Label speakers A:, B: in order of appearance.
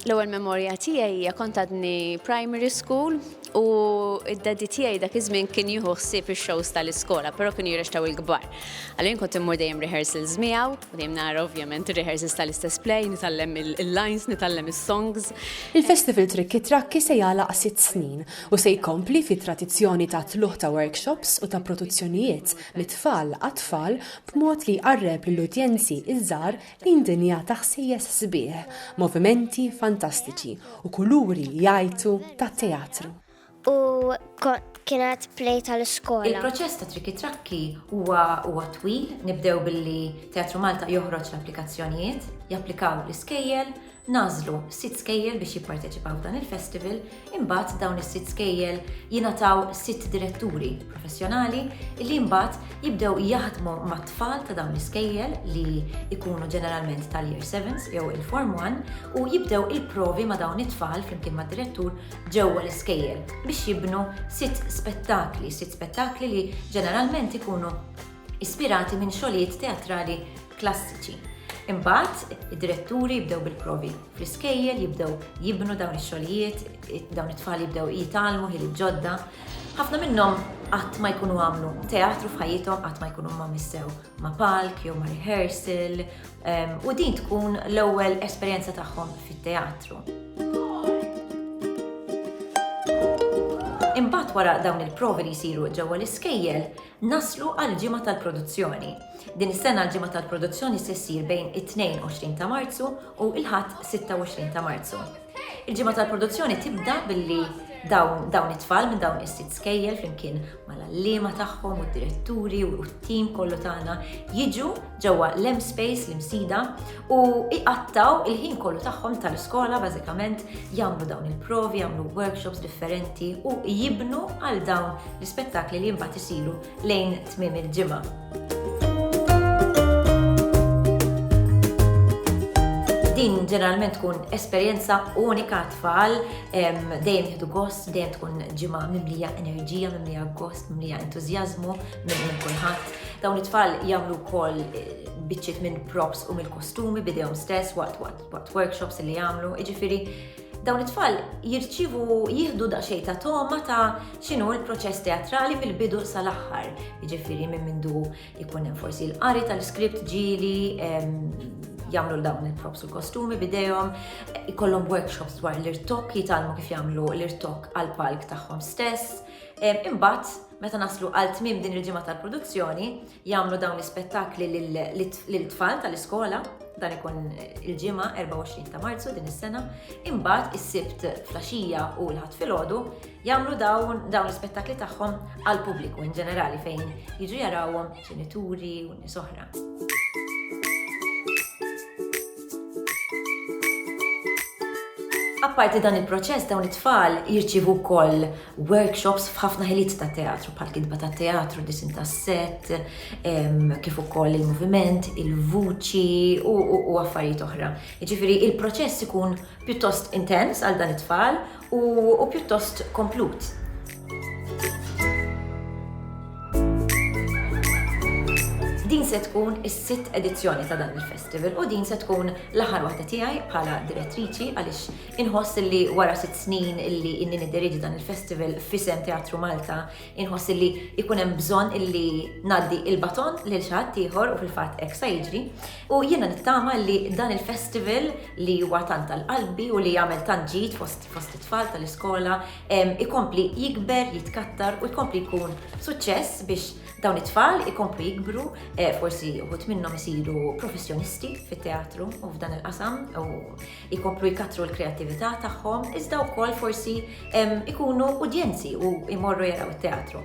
A: L-ewwel memorja tiegħi hija kont għadni primary school u id-daddy tiegħi dak iż-żmien kien jieħu ħsieb ix-shows tal-iskola, però kienu jirrextaw il-kbar. Għalhekk kont immur dejjem rehearsals miegħu, u dejjem nara ovvjament rehearsals tal-istess play, nitgħallem il-lines, nitgħallem is-songs. Il-Festival Trikki Trakki se jagħlaq sitt snin u se jkompli fit-tradizzjoni ta' tluħ ta' workshops u ta' produzzjonijiet mit-tfal għat-tfal b'mod li jqarreb lill-udjenzi ż-żgħar lejn dinja ta' ħsejjes sbieħ, movimenti fantastiċi u kuluri li jgħajtu tat-teatru. U kienet play tal-iskola. Il-proċess ta' Trikki Trakki huwa twil, nibdew billi Teatru Malta joħroġ l-applikazzjonijiet, japplikaw l-iskejjel, Nagħżlu sitt skejjel biex jipparteċipaw f'dan il-festival, imbagħad dawn is-sitt skejjel jingħataw sitt diretturi professjonali li mbagħad jibdew jaħdmu mat-tfal ta' dawn l-iskejjel li jkunu ġeneralment tal-year 7s jew il-form 1 u jibdew il-provi ma' dawn it-tfal flimkien mad-direttur ġewwa l-iskejjel biex jibnu sitt spettakli, sitt spettakli li ġeneralment ikunu ispirati minn xogħlijiet teatrali klassiċi. Imbagħad, id-diretturi jibdew bil-provi fl-iskejjel, jibdew jibnu dawn ix-xogħlijiet, dawn it-tfal jibdew jitgħallmu ħiliet ġodda. Ħafna minnhom qatt ma jkunu għamlu teatru f'ħajjithom, qatt ma jkunu ma missew ma' palk jew ma' rehearsal, ehm, u din tkun l-ewwel esperjenza tagħhom fit-teatru. Imbagħad wara dawn il-provi li jsiru ġewwa l-iskejjel, Naslu għall-ġimgħa tal-produzzjoni. Din is-sena l-ġimgħa tal-produzzjoni se ssir bejn it-22 ta' Marzu u l-Ħadd 26 ta' Marzu. Il-ġimgħa tal-produzzjoni tibda billi dawn dawn it-tfal minn dawn is-sitt skejjel flimkien mal-għalliema tagħhom u d-diretturi u t-tim kollu tagħna jiġu ġewwa l-M-Space l-Imsida u iqattaw il-ħin kollu tagħhom tal-iskola bażikament jagħmlu dawn il-provi, jagħmlu workshops differenti u jibnu għal dawn l-ispettakli li mbagħad isiru lejn tmiem il-ġimgħa. din ġeneralment tkun esperjenza unika tfal, dejjem jieħdu gost, dejjem tkun ġimgħa mimlija enerġija, mimlija gost, mimlija entużjażmu, minn kulħadd. Dawn it-tfal jagħmlu wkoll eh, biċċiet minn props u mill-kostumi bidejhom stess waqt waqt workshops li jagħmlu. Jiġifieri dawn it-tfal jirċivu jieħdu daqsxejn ta' toma ta' x'inhu l-proċess teatrali mill-bidu sal-aħħar. Jiġifieri minn mindu jkun hemm forsi l-qari tal-skript ġieli, jagħmlu dawn il-props u kostumi bidejhom, ikollhom workshops dwar l-irtok, jitalmu kif jagħmlu l-irtok għal palk tagħhom stess. Imbagħad Meta naslu għal tmiem din il-ġimgħa tal-produzzjoni, jagħmlu dawn l-ispettakli lill-tfal tal-iskola, dan ikun il-ġimgħa 24 ta' Marzu din is-sena, imbagħad is-Sibt flaxija u l-Ħadd filgħodu jagħmlu dawn l-ispettakli tagħhom għall-pubbliku in ġenerali fejn jiġu jarawhom ġenituri u nies oħra. Apparti dan il-proċess dawn it-tfal jirċivu wkoll workshops f'ħafna ħiliet ta' teatru, bħal kitba ta' teatru, disin ta' set, kif ukoll il-moviment, il-vuċi u affarijiet oħra. Ġifieri il-proċess ikun pjuttost intens għal dan it-tfal u pjuttost komplut. Din se tkun is-sitt edizzjoni ta' dan il-festival u din se tkun l-aħħar waħda tiegħi bħala direttriċi għaliex Inħoss li wara sitt snin illi inni niddirieġi dan il-festival f'isem Teatru Malta, inħoss illi jkun hemm bżonn illi ngħaddi il-baton lil xi ħadd ieħor u fil-fatt hekk sa jiġri. U jiena nittama li dan il-festival li huwa tant għal qalbi u li jagħmel tant ġid fost it-tfal tal-iskola ikompli jikber, jitkattar u jkompli jkun suċċess biex dawn it-tfal ikomplu jikbru, forsi wħud minnhom isiru professjonisti fit-teatru u f'dan il-qasam. Ikomplu jkattru l-kreattività tagħhom iżda wkoll forsi jkunu udjenzi u jmorru jaraw it-teatru.